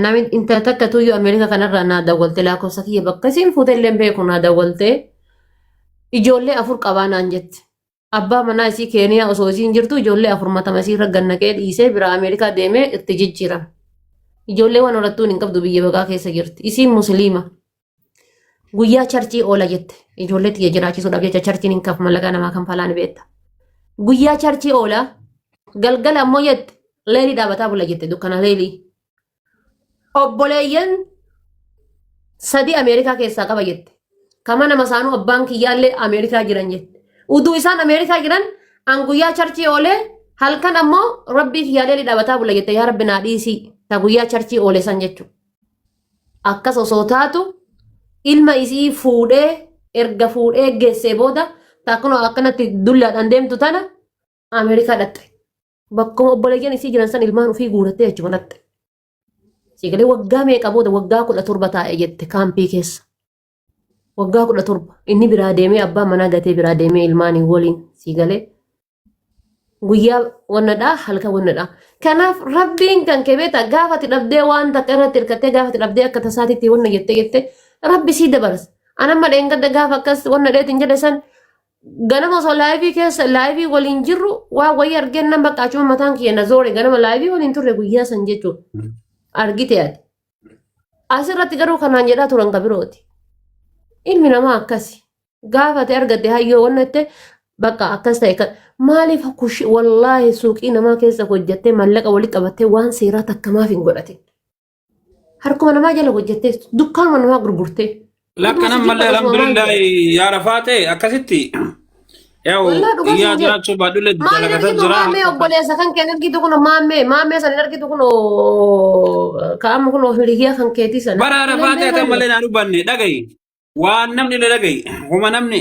Namni intala takka tuyyuu Ameerikaa kanarraa naa dawwalte lakkoofsa kiyya bakka isiin fuute illee hin beeku naa dawwalte ijoollee afur qabaa naan jette. Abbaa manaa isii Keeniyaa osoo isiin jirtu ijoollee afur matama isii irra gannaqee dhiisee biraa Ameerikaa deemee itti jijjiirame. Ijoollee waan horattuun hin qabdu biyya baqaa keessa jirti. Isiin musliima. Guyyaa charchii oola jette ijoollee tiyya jiraachisuudhaaf jecha charchiin hin kafu mallaqaa namaa kan falaan beekta. Guyyaa charchii oola galgala ammoo jette leelii dhaabataa bula jette dukkana leelii. Obboleeyyan sadii Ameerikaa keessaa qaba jette. Kama nama saanuu abbaan kiyyaallee Ameerikaa jiran jette. Uduu isaan Ameerikaa jiran an guyyaa charchii oolee halkan ammoo rabbii kiyyaallee dhaabataa bula jette yaa rabbi naa dhiisii ta guyyaa charchii oole san jechuudha. Akkas osoo taatu ilma isii fuudhee erga fuudhee geessee booda taakkunoo akkanatti dullaadhaan deemtu tana Ameerikaa dhaqxe. Bakkuma obboleeyyan isii jiran san ilmaan ofii guurattee achuma dhaqxe. Siigalee waggaa meeqa booda waggaa kudha torba taa'e jette kaampii keessa. waggaa kudha torba inni biraa deemee abbaa manaa gatee biraa deemee ilmaanii waliin sii galee guyyaa wannadhaa halkan wannadhaa kanaaf rabbiin kan kebeeta gaafati dhabdee waan takka irratti hirkattee gaafati dhabdee akka tasaatitti wanna jette jette rabbi sii dabarsa anamma dheengadda gaafa akkas wanna dheetin jedhe san ganama osoo laayivii keessa laayivii waliin jirru waa wayii argeen nan baqqaachuma mataan kiyya na zoore ganama laayivii waliin turre guyyaa san jechuudha argite ati Asirratti garuu kanaan jedhaa turan ka birooti. Ilmi namaa akkasi. Gaafate argatte hayyoo wanna jette bakka akkas ta'e kan maaliif kushi wallaahi suuqii namaa keessa hojjettee mallaqa walitti qabattee waan seeraa takka maaf hin godhatin. Harkuma namaa jala hojjettee dukkaanuma namaa gurgurtee. Lakkan Dhugaa ammallee jibba dhugumaa alhamdulillah jira. yaa rafaa ta'e akkasitti yaa'u Wallah dhugaa iyyaa siin jedhe. jiraachuu baadhullee Maal hin dalagataa argitu jira. maammee obboleessa kan kee hin argitu kuno maammee maammee san hin argitu kuno kaa'amu kuno hiriyaa kan keetii sana. Bara Ijoolleen rafaa ta'e beekaa kan jiru. malee naa dubbanne dhaga'i. Waan namni na dhaga'i. Homa namni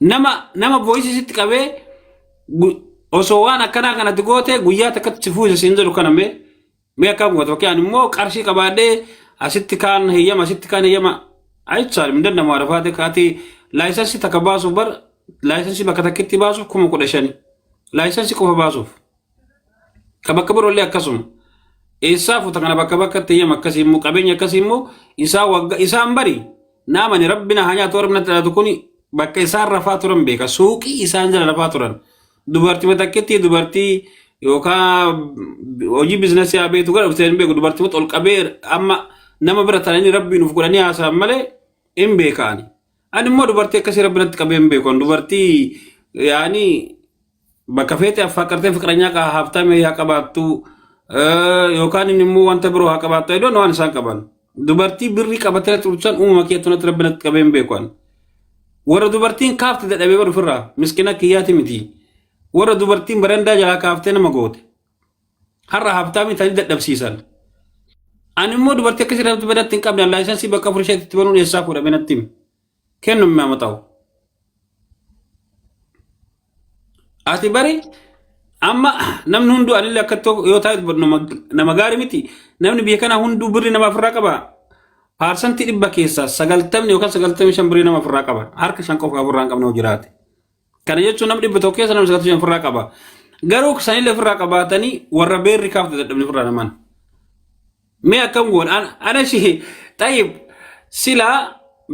nama nama voice sitti qabee gu- osoo waan akkanaa kanatti goote guyyaa takkatti si fuusa siin jedhu kana mee mee akkam goote fakkii ani immoo qarshii qabaadhee asitti kaan heyyama asitti kaan heyyama ayichaal hin danda'amu arafaate kaati laayisansii takka baasuuf bar laayisansii bakka takkitti baasuuf kuma kudha shani laayisansii qofa baasuuf Ka bakka biroollee akkasuma. Eessaa futa kana bakka bakkatti eeyyama akkasii immoo qabeenya akkasii immoo isaa wagga isaan bari naamani rabbi na haa nyaatu warri natti dhaatu kuni bakka isaan rafaa turan beeka suuqii isaan jala rafaa turan dubartii takkitti dubartii yookaan hojii biizinasii haa beektu gara dhuftee hin beeku dubartii ol qabee amma nama bira taa'anii rabbiin of godhanii haasa'an malee hin beekaani. Ani immoo dubartii akkasii rabbi natti qabee hin beeku dubartii yaani Bakka feete affaaqartee fiqranyaa kaa haaftaamee haa qabaattu eh, yookaan inni immoo wanta biroo haa qabaattu edoon waan isaan qaban. Dubartii birrii qabatee tursan uumama kee tunatti rabbi natti qabeen beeku ani. Warra dubartiin kaafte dadhabee bar ofirraa miskina kiyyaati miti. Warra dubartiin barandaa jalaa kaaftee nama goote. Har'a haaftaamii tanii dadhabsiisan. Ani immoo dubartii akkasii irratti badatti hin qabne laayisansii bakka afur isheetti itti banuun eessaa fuudhame natti himi. kennu hin mamu ta'u. Ati bari amma namni hunduu anillee akka tokko yoo taa'e nama gaarii miti namni biyya kana hunduu birri nama ofirraa qaba. Paarsantii dhibba keessaa sagaltamni yookaan sagaltamii shan birrii nama ofirraa qaba. Harka shan qofa ofirraa hin qabne yoo jiraate. Kana jechuun namni dhibba tokko keessa namni sagaltamii shan ofirraa qaba. Garuu sanillee ofirraa qabaatanii warra beerri kaafte dadhabne ofirraa namaan. Mee akkam goon an- ana shi xayyib silaa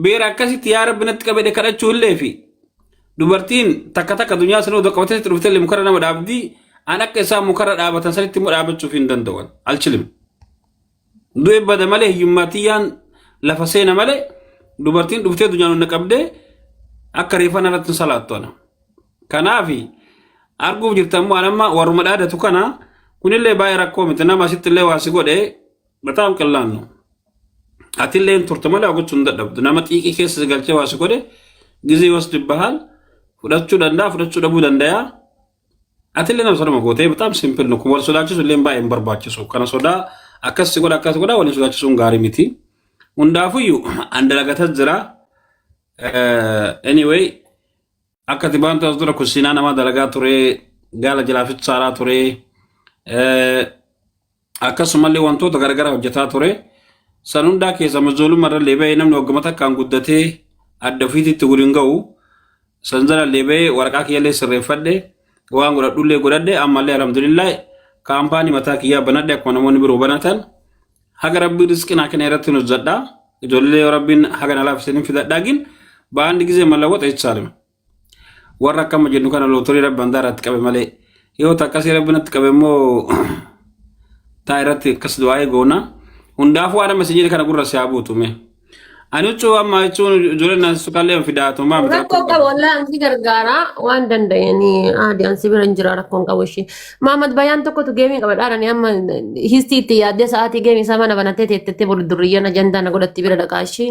beera akkasitti yaa rabbi natti qabedhe kadhachuu illee fi dubartiin takka takka dunyaa sanuu odoo qabatee sitti dhuftee illee mukarra nama dhaabdi an akka isaan mukarra dhaabatan sanitti immoo dhaabachuuf hin danda'an alchilim. Du'e bada malee hiyyummaa tiyyaan lafa seena malee dubartiin dhuftee dunyaan na qabdee akka reeffa narratti hin salaattu ana. Kanaafi arguuf jirtan immoo anamma warruma dhaadatu kana kunillee baay'ee rakkoo miti nama asitti illee waa si godhe bataam qillaannu. Atillee hin turte malee gochuu hin dadhabdu nama xiiqii keessa si galchee waa si godhe gizee was dibbahaal fudhachuu danda'a fudhachuu dhabuu danda'a Atillee nama sodaa gootee bitaam simpil nuku wal sodaachisu illee baay'ee hin barbaachisu. Kana sodaa akkas si godha akkas godha waliin sodaachisuun gaarii miti. Hundaafuyyuu an dalagata jira. Anyway akka ati baantu as dura kusiinaa namaa dalagaa ture gaala jalaafis saaraa ture. Akkasumallee wantoota garagaraa hojjetaa ture. San hundaa keessa amma ijoollummaa irrallee bahee namni wagguma takkaan guddatee adda ofiititti wal hin ga'u. San jalallee bahee waraqaa kiyyallee sirreeffadhe waan godhadhullee godhadhe ammallee alhamdulillah kaampaanii mataa kiyyaa banadhe akkuma namoonni biroo banatan haga rabbiin rizqii naa kenne irratti hojjedha. Ijoollee yoo rabbiin haga na laafiseen hin fidadha gin baandi gizee mallawwaxa ichaalima. warra akkama jennu kana lootorii rabbi handaa irratti qabe malee yoo ta akkasii rabbi natti qabe immoo taa irratti akkas du'aa'ee goona hundaafuu waan amma isin jedhe kana gurra si haa buutu mee ani huccuu amma jechuun ijoolleen naan suqallee fidaatu maa miti Rakkoo rakkoo qaba wallaan ansi gargaaraa waan danda'anii aadi ansi bira hin jira rakkoon qabu ishee. Maamad bayyaan tokkotu geemii qaba dhaadhanii amma histii itti yaaddee sa'aatii geemii isaa mana banattee teettettee bulu durriyyaan ajandaa na godhatti bira dhaqaa ishee.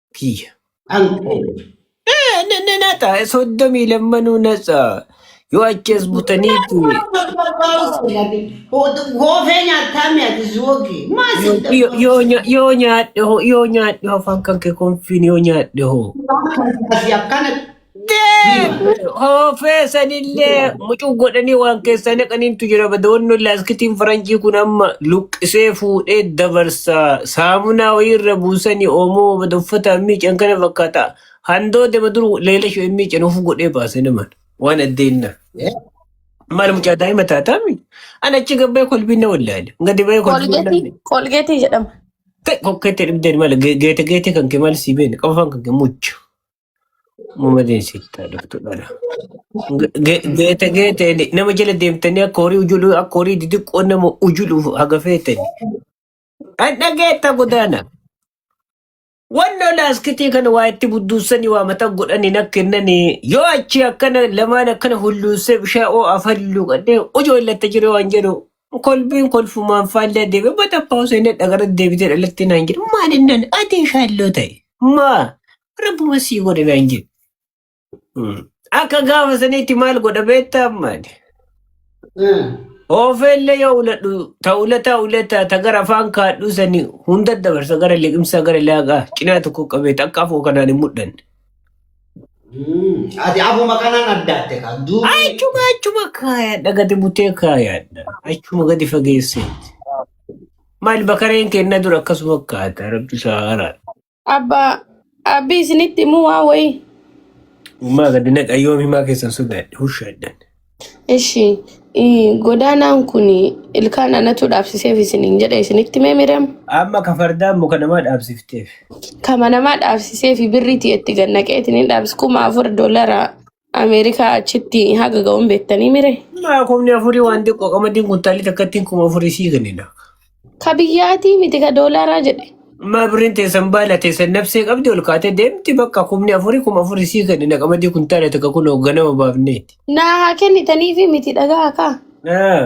kiyya. An Eh, na- na- Nata soddomii lammanuu natsa yoo achi as butaniitti goofee nyaataa mi'ati zuwogi maa yoo sidda yoo- yoo nya- yoo nyaadhe hoo yoo nyaadhe hoo afaan kan kee konfiin yoo nyaadhe hoo akkana Hoofee sanillee mucuu godhanii waan keessaa naqaniintu jira. Badoonni laaskitiin faranjii kun amma luqqisee fuudhee dabarsa. Saamunaa wayiirra buusanii oomoo bada uffata miican kana fakkaata. Handoo dema dur leela shoo miican of godhee baase naman. Waan addeenna. Maal mucaa daa'ima taataami? Ana achi gabbee kolbiin na wallaale. Gadi ba'ee kolbiin na Kolgeetii wallaale. kolgeetii jedhama. Kokkee itti dhibdeen maal geete geete kan kee maal sii beene qofaan kan kee mucha. Malee sittaa dhuftu dhala. Geete geete nama jala deemtanii akka horii ujuluu akka horii didiqqoo nama ujuluuf haga feetani. Hadha geetta godaana. Wanno laaskitii kana waa itti budduussanii waa mata godhanii na kennanii yoo achi akkana lamaan akkana hulluussee bishaa oo afaan luuqadhee ujoo illatta jiru waan jedhu kolbiin kolfumaan faallee deeme bata paawusee na dhagara deebitee dhalatti naan jedhu maal innaan adii shaalloo ta'e maa Rabbuma sii godhe naan jedhe. Mm. Akka gaafa saniitti maal godha beektaa ammaani? Oofeellee yoo uladhu ta ulataa ulataa ta gara afaan kaadhuu sanii hunda dabarsa gara liqimsaa gara laaqaa cinaa tokko qabeet akka afoo kanaan hin mudhanne. Ati afuma kanaan addaatte kan duubi. Achuma achuma kaayaadha gadi butee kaayaadha. Achuma gadi fageesseetti. Maal bakareen kenna dura akkasuma kaata rabbi isaa haraadha. Abba abbi isinitti himuu waa wayii. Uumaa gadi naqa yoom himaa keessan sodaadhe husha jedhan. Ishi ii, godaanaan kun ilkaan anatu dhaabsiseef isiniin jedhe isinitti mee miram. Amma ka fardaan muka namaa dhaabsifteef. Kama namaa dhaabsiseef birriitii itti gannaqeetiin hin dhaabsi kuma afur doolaraa. Ameerikaa achitti haga ga'uun beektanii mire? Maa kumni afurii waan xiqqoo qamadiin kuntaalii takkattiin kuma afurii sii kennina. Ka biyyaatii miti ka doolaaraa jedhe. Maa birriin teessan baala teessan nabsee qabdi ol kaatee deemti bakka kumni afurii kuma afurii sii kennina qamadii kuntaala takka kunoo ganama baafneeti. Naa haa kennitaniifi miti dhagaa kaa. Ah,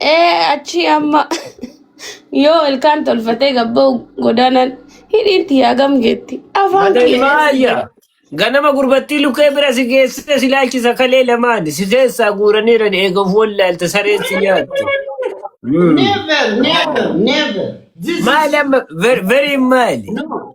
Ee achi amma yoo ilkaan tolfatee gabba'u godaanaan hidhiin tiyyaa gam geetti. Afaan Mata kiyya ilmaa eessa ayya. geetti? Ganama gurbattii lukkee bira si geessite si laalchisa kalee lamaan si keessaa guuraniiran eegauf wallaalte sareen si nyaatte. Mm. Never, never, never. This Maali is amma ver- veriin maali? no.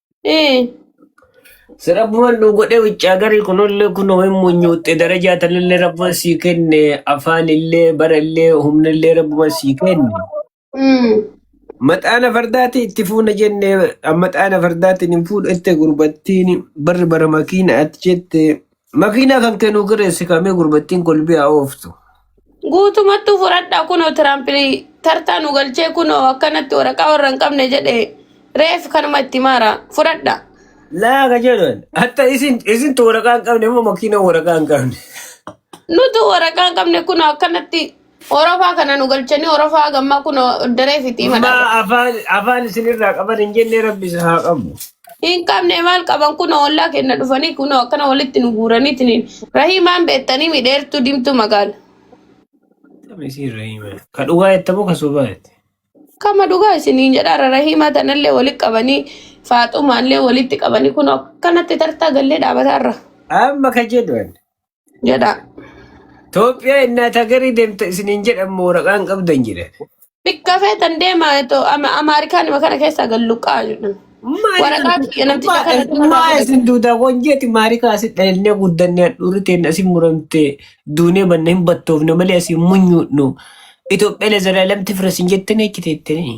Eh. Si rabbuman nu godhe wiccaa garii kunollee kunoo hin munyuuxxe darajaa tanallee rabbuman sii kenne afaan illee bara illee humna illee rabbuman sii kenne. Mm. Maxaana fardaatii itti fuuna jenne maxaana fardaatiin hin fuudhette gurbattiin barri bara makiina ati jette. Makiinaa kan kennu kireessi kamee gurbattiin kolbee haa ooftu. Guutumattuu fudhadhaa kunoo Tiraamp tartaa nu galchee kunoo akkanatti waraqaa warra hin qabne jedhe reef kanuma itti maara fudhadhaa. Laa ka jedhan hatta isin isin tu waraqaa hin qabne moo makiinaa waraqaa hin qabne. Nutu waraqaa hin qabne kunoo akkanatti Orofaa kana nu galchanii orofaa gammaa kun daree fitii Amma madhaaba. afaan afaan isinirraa qaban hin jenne rabbi isa haa qabu. Hin qabne maal qaban kun ollaa kenna dhufanii kun akkana walitti nu guuraniitiin. Rahiimaan beektanii midheertuu dimtuu magaala. Akkam isiin rahima. Ka dhugaa jettamu ka sobaa jette. Kama dhugaa isiniin jedhaara rahiimaa tanallee walitti qabanii faaxumaallee walitti qabanii kun akkanatti tartaa gallee dhaabataarra. Amma ka jedhu ani. jedha. Itoophiyaa innaa tagarii deemta isiniin jedhan moo waraqaan qabdan jedhan. Bikka feetan deema eto ama Amaarikaan ima kana keessaa galluqaa jedhan. Maali Waraqaa kana? kiyya namticha Maa- kana kanarraa Maa fudhate. isin duudaa wanjeeti maarikaa asi dhalannee guddannee hadhuurri teenya asi muramte duunee banna hin battoofne malee asi hin munyuudhnu. Itoophiyaa lezalaalamti fira isin jettanii achi teettanii.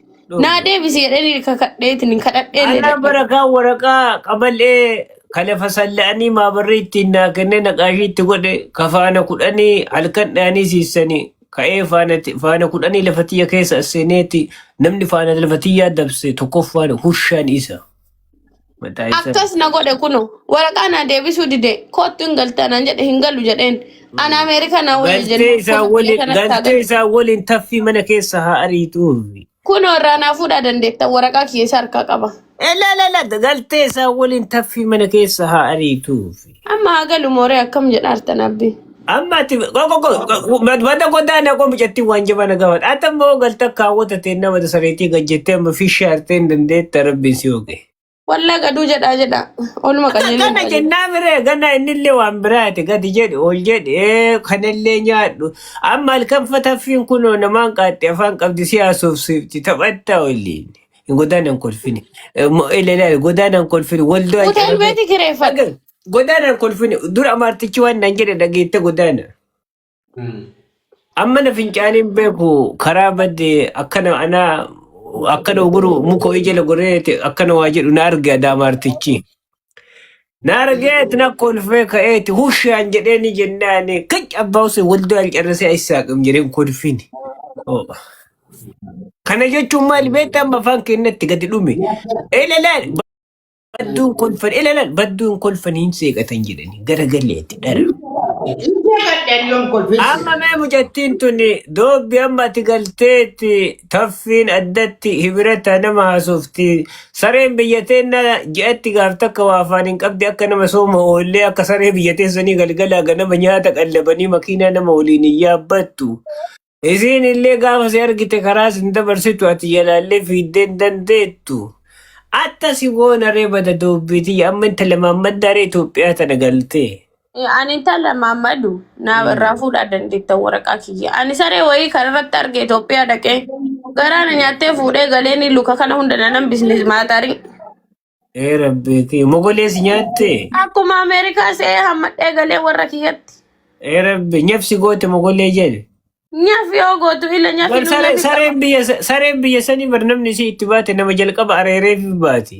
Naa dhoofne. deebisi jedhanii kakadheetiin kadhadheen Anaa dadhabe. barakaa waraqaa qabal'ee ka lafa salla'anii maabarri ittiin naa kennee naqaashii itti godhe ka faana kudhanii halkan dhayanii siissanii ka'ee faana ti- faana kudhanii lafa tiyya keessa as seeneeti namni faana lafa tiyyaa dabse tokkoffaan hushaan isa. Mataa ibsa akkas na godhe kuno waraqaa naa deebisuu dide koottu hin galtaa naan jedhe hin galu jedheen ana ameerikaa naa wayya galtee jennaan isaa kuno biyya waliin kanatti haa galtee galu isaa waliin taffii mana keessa haa ariituuf. kuno irraa naa fuudhaa dandeettan waraqaa kiyya isa harkaa qaba Elelele galtee isaa waliin taffii mana keessa haa ariituuf. Amma haa galu mooree akkam jedha artan abbi. Amma ati madda goddaa na qomi jetti waan jaba na gaafata. Ati amma hoo galta kaawwata ta'e nama da sareetii gad jettee amma fi shaartee hin dandeetta rabbiin si hoge. Wallaa gaduu jedhaa jedhaa. Oluma Akka qajeelee kana jedhaa jedhaa. jennaa miree gana innillee waan biraati gadi jedhe ol jedhe ee, kanallee nyaadhu. Amma halkan fataffiin kunoo namaan qaaxxee afaan qabdi si haasofsiifti taphatta waliin. Godaanaan kolfine. Ilaali godaanaan kolfine waldaa Hotel carabee. beeti kireeffadha. Dhagaa godaanaan kolfine dura amaartichi waan naan jedhe dhageette godaana. Amma na fincaaniin beeku karaa badde akkana anaa akkana oguru muka ho'i jala goree akkana waa jedhu na arge adaa amaartichi. Naargeet na kolfee ka'eeti hushaan jedhee ni jennaan kic abbaa usee waldoo alcarrasee ayisaa qim jedheen kolfiin. Oh. Kana jechuun maali beektaa amma afaan keenyatti gadi dhume. Ilalaan badduun kolfan ilalaan badduun kolfan hin seeqatan jedhani garagaleeti dhara. Amma mee mucattiin tuni doobbi amma ati galteetti taffiin addatti hibirata nama haasofti Sareen biyya teenna ji'atti gaaf takka waa afaan hin qabde akka nama sooma oollee akka saree biyya teessanii galgalaa ganama nyaata qallabanii makiinaa nama waliin hin yaabbattu. Isiin illee gaafa si argite karaa sin dabarsitu ati jalaallee fiiddee hin dandeettu. Atta si goona ree bada doobbiitii amma inta lamaan maddaaree Itoophiyaa tana galtee. Eh, Ani intala maammadu naa irraa Mm. fuudhaa dandeetta waraqaa kiyya. Ani saree wayii kan irratti arge Itoophiyaa dhaqee garaa na nyaattee fuudhee galee ni luka kana hunda na nan bisnis maatarii. Ee rabbeeti. Mogolee si nyaatte. Akkuma Ameerikaa se'ee hammadhee galee warra kiyyatti. Ee rabbi nyabsi goote mogolee jeen. Nyaf yoo gootu ila Bar nyafinuu sare- nyafi qaba. sareen biyya sa- sareen biyya sanii bar namni isii itti baate nama jalqaba areereef baati.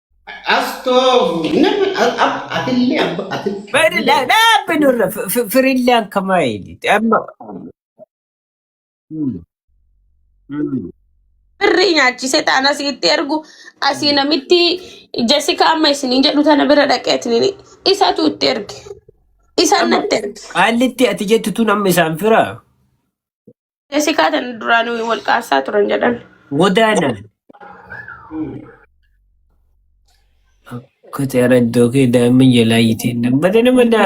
Astoofu nama a- a- atillee abba ati Bari la la binurra firillan kama ili. Amma. Mm. Mm. Birrii nyaachise taan asitti ergu asii Mm. namitti Jessica amma isiniin jedhu tana bira dhaqeetiin isatu itti erge. Isaan Amma natti erge. qaallitti ati jettu tun amma isaan fira. Esi kaatan duraan wal qaasaa turan jedhan. Wadaa nam. Kati araddoo kee daa'imman jalaa yiteen nam. Bada nama da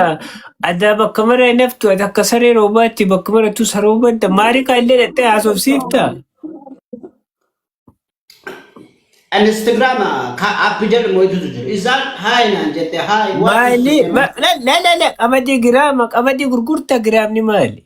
adaa bakka mara hin haftu ati akka saree roobaatti bakka marattu saroo badda maari kaa illee dhattee haasofsiifta. Instagram ka app jedhamu hedduutu jiru. Isaan haay naan jette haay waan Maali? ibsu Ma- La la la la qamadii giraama qamadii gurgurta giraamni maali?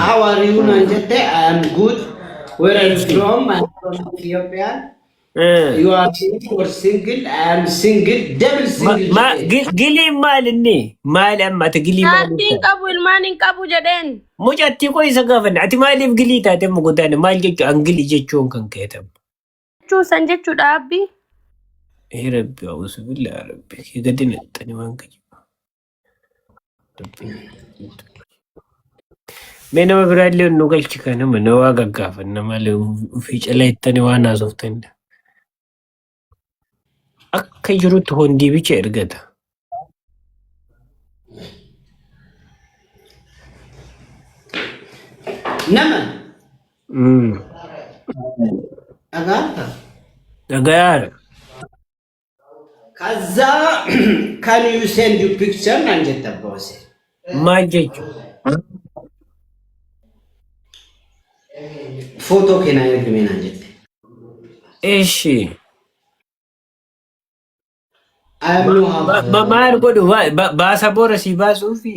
How are you naan jette I am good. Where are you from? I am from Ethiopia. You are single or single? I am single. Double single jedhee. Giliin maal inni? Maali amma ati gilii maal Jaartii hin ibsa? qabu ilmaan hin qabu jedheen. Mucattii koo isa gaafanne ati maaliif gilii taate amma guddaan maal jechuun an gilii jechuun kan keetamu. Jechuun san jechuudha abbi. Ee rabbi awusu billaa rabbi kee gadi naqxani waan gaji. Mee nama biraa illee nu galchi kan nama na waa gaggaafanna malee ofii cala jettanii waan haasoftan. Akka jirutti hondii bicha ergata. Nama Mm. dhagaata. Dhagayaadha. Kaza can you send your picture naan jette abbaa Huseen. Maal jechu? Footoo kee naa ergime naan jette. Ishi. I have no have. Maal godhu? Baasa boora si baasuufi?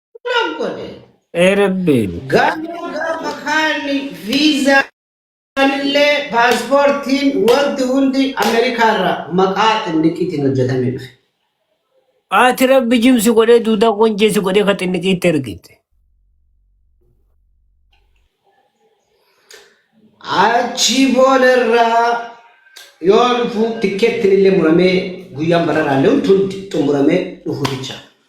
Bula godhe. Ee rabbiin. Garuu gaafa kaanni viizaa illee paaspoortiin wanti hundi Ameerikaarra maqaa xinniqiitiin hojjetamee dhufe. Ati rabbi jimsi godhee duudaa qonjeessi godhee ka xinniqiitti ergite. Achii boodarraa yoo dhufu tikkeettiin illee muramee guyyaan bararaallee hundi xumuramee dhufu jecha.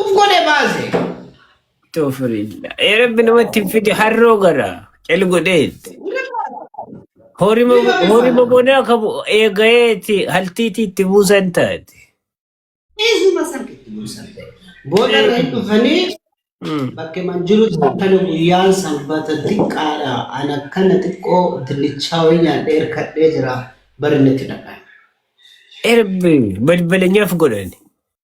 Uf godhe baase. Tofirilla. Ee rabbi namatti hin fide harroo gara. Cal godheetti. Horima Ni baafama. horima bonaa qabu eegayeeti haltiitii itti buusan taate. Eesuma san itti buusan ta'e. Booda irra hin dhufanii Mm. bakka man jirutti akkana guyyaan sanbata xiqqaadha. An akkana xiqqoo dinnichaa wayii nyaadhee hirkadhee jira. Bari natti dhaqan. Erbi balbalanyaaf godhani.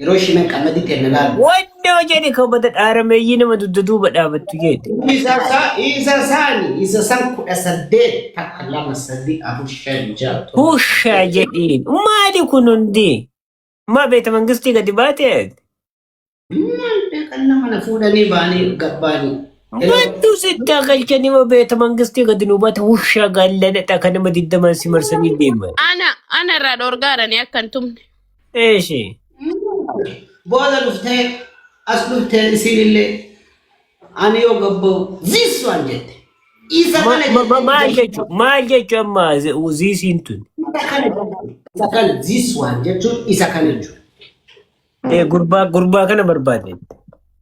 Yeroo ishii nan qalladii ta'e na laalu. Wannoo jedhi kabata dhaarameeyyii nama dugda duuba dhaabattu jeete. Isa sa isa saani isa san kudha saddeet takka lama sadii afur shan ja'a torba Hushaa saddeet. jedhiin. Maali kun hundi? Maa beeta mangistii gadi baate? Maal beekan nama na fuudhanii baanii gabbaanii. Hello. Battuu sittaa galchanii moo beeta mangistii gadi nu baate hushaa gaalladha kan nama digdamaan si marsanii deeman. Ana ana irraa dhorgaadhani akka hin tumne. Eeshi. Booda dhuftee as dhuftee isinillee ani yoo gabba'u ziis waan jette. Isa Ma- kana ma- ma- Maal jettee jechuun maal jechuun amma zi- ziisiin tun isa kana jechuun isa kana ziis waan jechuun isa kana jechuun. Eh, gurbaa gurbaa kana barbaadde.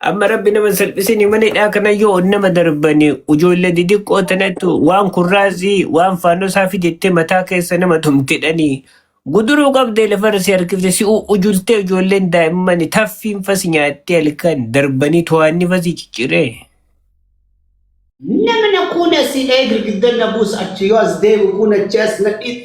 Amma rabbi nama salphisini mana hidhaa kana yoo nama darbani ijoollee didiqqoo tanatti waan kurraazii waan faannosaa fidettee mataa keessa nama tumtidhanii guduruu qabdee lafarra si harkifte si u- ujultee ijoolleen daa'immani taffiin fasi nyaattee halkan darbanii to'aanni fasi cicciree. Namna kuna si ee girgiddan na buus achi yoo as deebi kun achi as na dhiit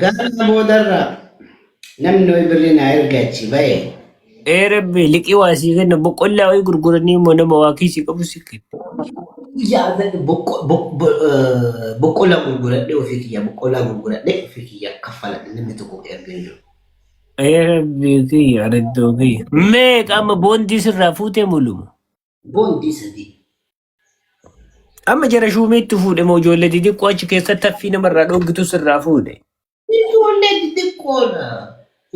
Gaafa boodarra namni wayi birrii naa erga achi ba'e. Ee rabbi liqii waa sii kenna boqqollaa wayii gurguranii immoo nama waa kiisii qabu sii kenna. Guyyaa irratti boqqo- bo- bo- eh, boqqollaa gurguradhee ofii kiyyaa boqqollaa gurguradhee ofii kiyyaa kaffaladhe namni tokko erga hin jiru. Ee rabbi kiyya araddoo kiyya. Meeqa amma boondii sirraa fuutee muluma. Boondii sadii. Amma jara shuumiitti fuudhe moo ijoollee xixiqqoo achi keessatti haffii namarraa dhooggitu sirraa fuudhe. Ijoollee xixiqqoodha.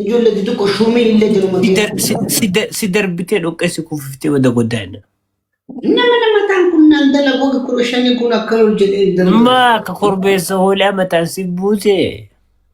Ijoollee xixiqqoo shuumiin illee jiruma Si dar- si- keessa. si dar- Si darbitee dhoqqeessi kuufiftee wada goddaa'ina. Nama namataan kun naan dalagu wagga kudha shanii kun akkana ol jedhee hin darbu. Maa akka korbeessa hoolaa mataan si buusee.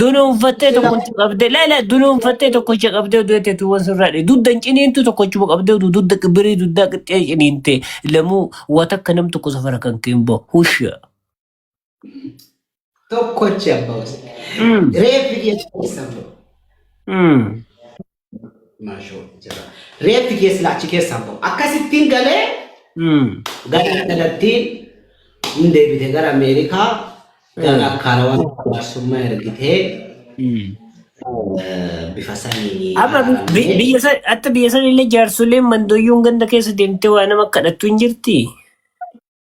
Dunuunfattee tokkochi qabdee laala dunuunfattee tokkochi qabdee oduu itti tuuwwan sirraadhe dudda hin ciniintu tokkochuma qabdee oduu dudda birii duddaa qixxee ciniinte lamuu waa takka nam tokko safara kan keen bahu husha. Tokkochi abbaa wasa. Mm. Reeffi dhiyeessu keessan ba'u. Mm. Maashoo jira. Reeffi keessa achi keessaa bahu. Akkasittiin galee gara kanatti hin deebite gara Ameerikaa gara akkaana waan jaarsummaa ergitee bifa saniin Amma bi- yaalamee biyya san atta biyya san illee jaarsoleen mandoyyuun ganda keessa deemtee waa nama kadhattu hin jirti.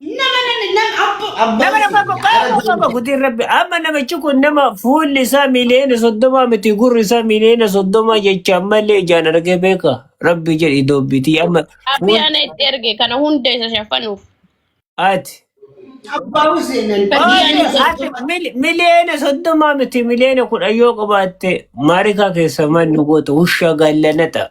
Nama nama nama abbo abbo Nama nama isin qoqqoo gara qoqqoo deemte. qoqqootiin rabbi amma namichi kun nama fuulli isaa miliyoona soddoma miti gurri isaa miliyoona soddoma jecha ammallee ijaan argee beeka rabbi jedhi doobbitii amma Abi fuul ana itti erge kana hunda isa shafanuuf. ati Abbo isin Badii ani Oye, miliyoona ati soddoma. mil- miliyoona soddoma miti miliyoona kudhan yoo qabaatte maarikaa keessa manni goota ushaa gaallana ta'a.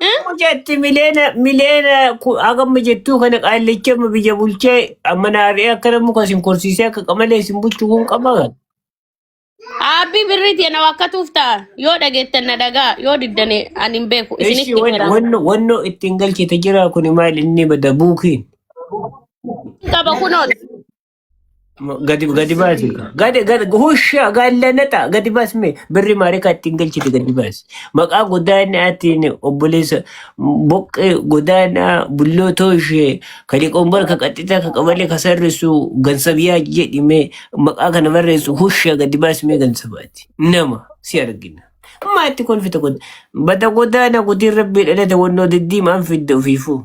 Eh? Akkuma jetti mileena mileena ku- hagamma jettuu kana qaallicha amma biyya bulchee amma naarree akka namni kan isin korsiisee akka qamalee isin bulchu kun qaba. Aabbii birriiti yana wakkatuuf ta'a. Yoo dhageettan na dhagaa, yoo diddane ani hin beeku. Ishi Isinitti wan- hera. wanno wanno ittiin galchite jira kun maal inni bada buukiin. Qaba kunoon. Gadi gadi baasi. Sirrii. Gadi gadi husha gaallanata gadi baasi mee birri maarikaa ittiin galchite gadi baasi. Maqaa godaanaatiin obboleessa boqqee godaanaa bullootoo ishee kan qombar ka qaxxitaa ka qabalee ka sarrisu gansabiyaa jedhi mee maqaa kana barreessu husha gadi baasi mee gansabaati. Nama si argina. Maatti kolfita kun bada godaanaa gudiin rabbii dhalate wannoo diddiimaan fidda ofiifuu.